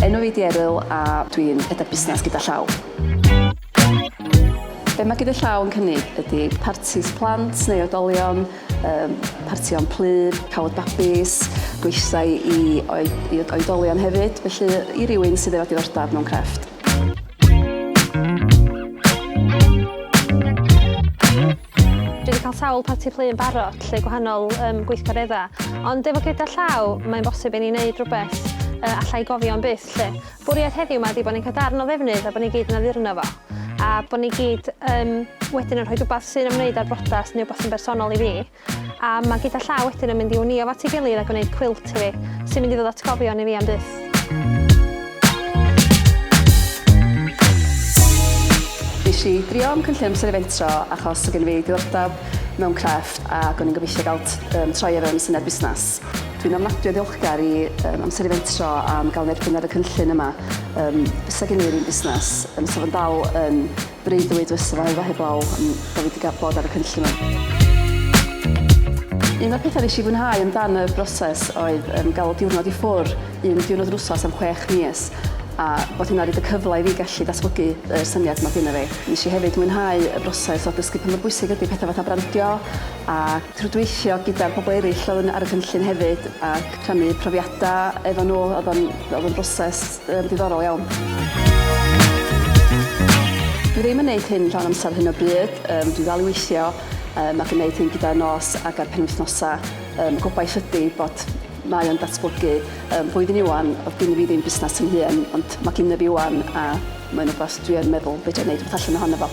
Enw fi di Eryl a dwi'n rhedeg busnes gyda llaw. Be mae gyda llaw yn cynnig ydy partis plant neu oedolion, um, partion plyd, cawod babis, gweithdai i, oed, i oedolion hefyd, felly i rywun sydd efo diddordeb mewn crefft. Dwi wedi cael sawl parti plu yn barod lle gwahanol um, gweithgareddau, ond efo gyda llaw, mae'n bosib i ni wneud rhywbeth uh, allai gofio am byth lle. Bwriad heddiw yma ydy bod ni'n cael darn o ddefnydd a bod ni gyd yn addurno fo, a bod ni gyd um, wedyn yn rhoi rhywbeth sy'n ymwneud â'r brodas neu rhywbeth sy'n bersonol i fi. A mae gyda llaw wedyn yn mynd i wnio fo at ei gilydd a gwneud cwilt i fi, sy'n mynd i ddod atgofion i fi am byth. Nes i drio am cynllun amser eventro achos o gen fi diddordeb mewn crefft ac o'n i'n gobeithio gael um, troi ar yn syniad busnes. Dwi'n ofnadwy o ddiolchgar i um, amser eventro am gael yn erbyn ar y cynllun yma. Um, Fysa gen i'r un busnes, um, sef yn dal yn Breuddwyd fy sylfaenfa heblaw am bod fi 'di gael bod ar y cynllun 'ma. Un o'r pethau nes i fwynhau amdan y broses oedd um, gael diwrnod i ffwr, un diwrnod yr wsos am chwech mis, a bod hynna wedi y cyfle i fi gallu datblygu y syniad yma gyda fi. Nes i hefyd mwynhau y broses o dysgu pa mor bwysig ydy pethau fatha brandio a trwydweithio gyda'r pobl eraill oedd yn ar y cynllun hefyd a rhannu profiadau efo nhw. Oedd o'n, oedd o'n broses Yn ddiddorol iawn. Dwi ddim yn neud hyn llawn amser hyn o bryd, um, dwi ddal i weithio um, ac yn neud hyn gyda'r nos ac ar penwythnosa. Um, gobaith ydy bod mae o'n datblygu. Um, flwyddyn iwan, oedd gen i fi ddim busnes yn hun, ond mae gen i fi iwan a mae'n rhywbeth dwi yn meddwl beth dwi'n neud rhywbeth allan ohono fo.